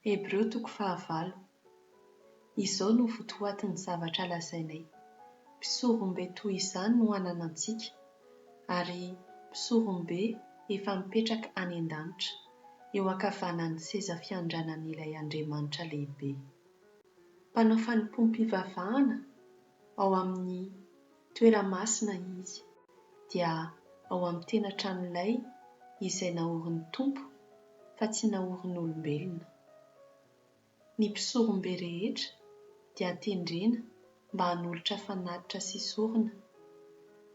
Hebreo toko fahavalo. Izao no votoatin'ny zavatra lazainay, Mpisorombe toy izany no ananantsika, ary Mpisorombe efa mipetraka any an-danitra, eo ankavanan'ny seza fiandranan'ilay Andriamanitra lehibe. Mpanao fanompoam-pivavahana ao amin'ny toerana masina izy, dia ao amin'ny tena tranolay izay naorin'ny Tompo fa tsy naorin'olombelona. Ny mpisorombe rehetra dia tendrena mba hanolotra fanatitra sy sorona,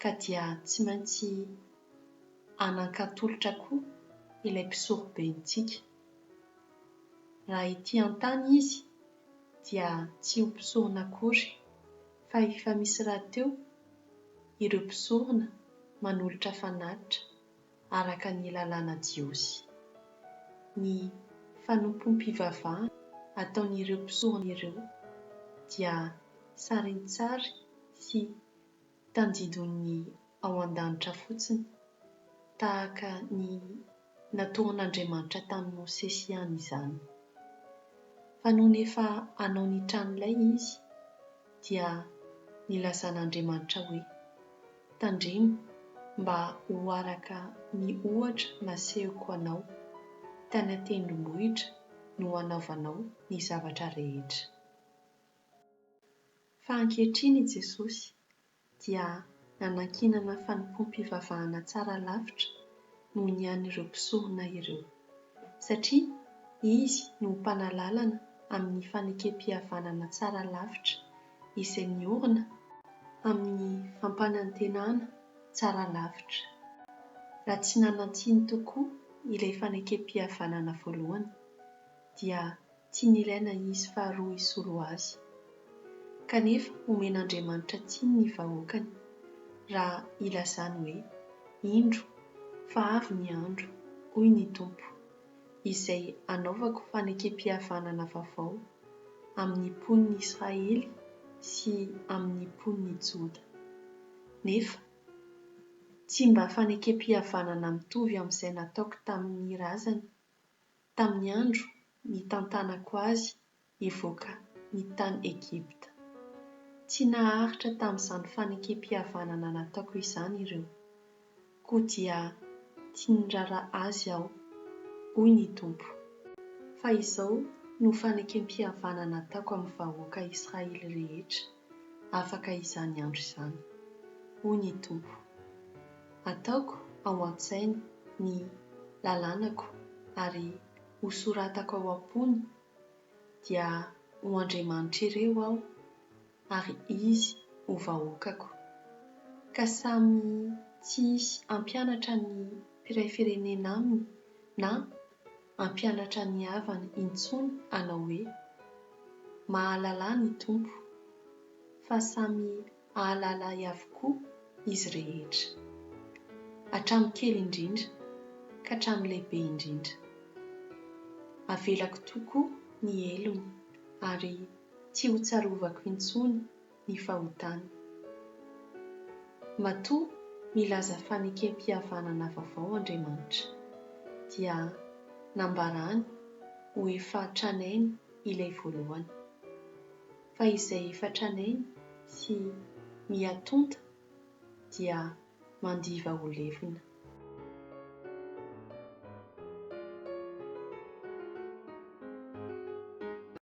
ka dia tsy maintsy hanan-katolotra koa ilay mpisorobentsika. Raha ety an-tany izy, dia tsy ho mpisorona akory, fa efa misy rahateo ireo mpisorona manolotra fanatitra araka ny lalàna jiosy. Ny fanompoam-pivavahana ataon'ireo mpisorona ireo dia sarintsary sy tandindon'ny ao an-danitra fotsiny, tahaka ny natoron'Andriamanitra tamin'i Mosesy ihany izany. Fa nony efa hanao ny tranolay izy, dia nilazan'Andriamanitra hoe, Tandremo mba ho araka ny ohatra nasehoko anao, tany an-tendrombohitra no hanaovanao ny zavatra rehetra. Fa ankehitriny i Jesosy dia nanankinana fanompoam-pivavahana tsara lavitra noho ny an'ireo mpisorona ireo, satria Izy no ho mpanalalana amin'ny fanekempihavanana tsara lavitra izay miorina amin'ny fampanantenana tsara lavitra. Raha tsy nanantsiny tokoa ilay fanekempihavanana voalohany, dia tsy nilaina izy faharoa hisolo azy. Kanefa omen'Andriamanitra tsiny ny vahoakany raha ilazany hoe, Indro, fa avy ny andro, hoy ny Tompo, izay hanaovako fanekempihavanana vaovao amin'ny mponin'i Israely sy amin'ny mponin'i Joda. Nefa tsy mba fanekempihavanana mitovy amin'izay nataoko tamin'ny razany. tamin'ny andro nitantanako azy hivoaka ny tany Egypta. Tsy naharitra tamin'izany fanekempihavanana nataoko izany ireo, koa dia tsy nirara azy aho, hoy ny Tompo, fa izao no fanekempihavanana ataoko amin'ny vahoaka Israely rehetra. afaka izany andro izany. Hoy ny Tompo, Ataoko ao an-tsainy ny lalànako ary hosoratako ao am-pony, dia ho Andriamanitr'ireo Aho, ary izy ho vahoakako. Ka samy tsy hisy hampianatra ny mpiray firenena aminy na. hampianatra ny havany intsony hanao hoe, Mahalala ahy ny Tompo, fa samy hahalala ahy avokoa izy rehetra, hatramin'ny kely indrindra ka hatramin'ny lehibe indrindra. Avelako tokoa ny helony ary tsy hotsarovako intsony ny fahotana. Matoa nilaza fanekempihavanana vaovao Andriamanitra, dia nambarany ho efa tranainy ilay voalohany, fa izay efa tranainy sy mihatonta dia mandiva ho levona.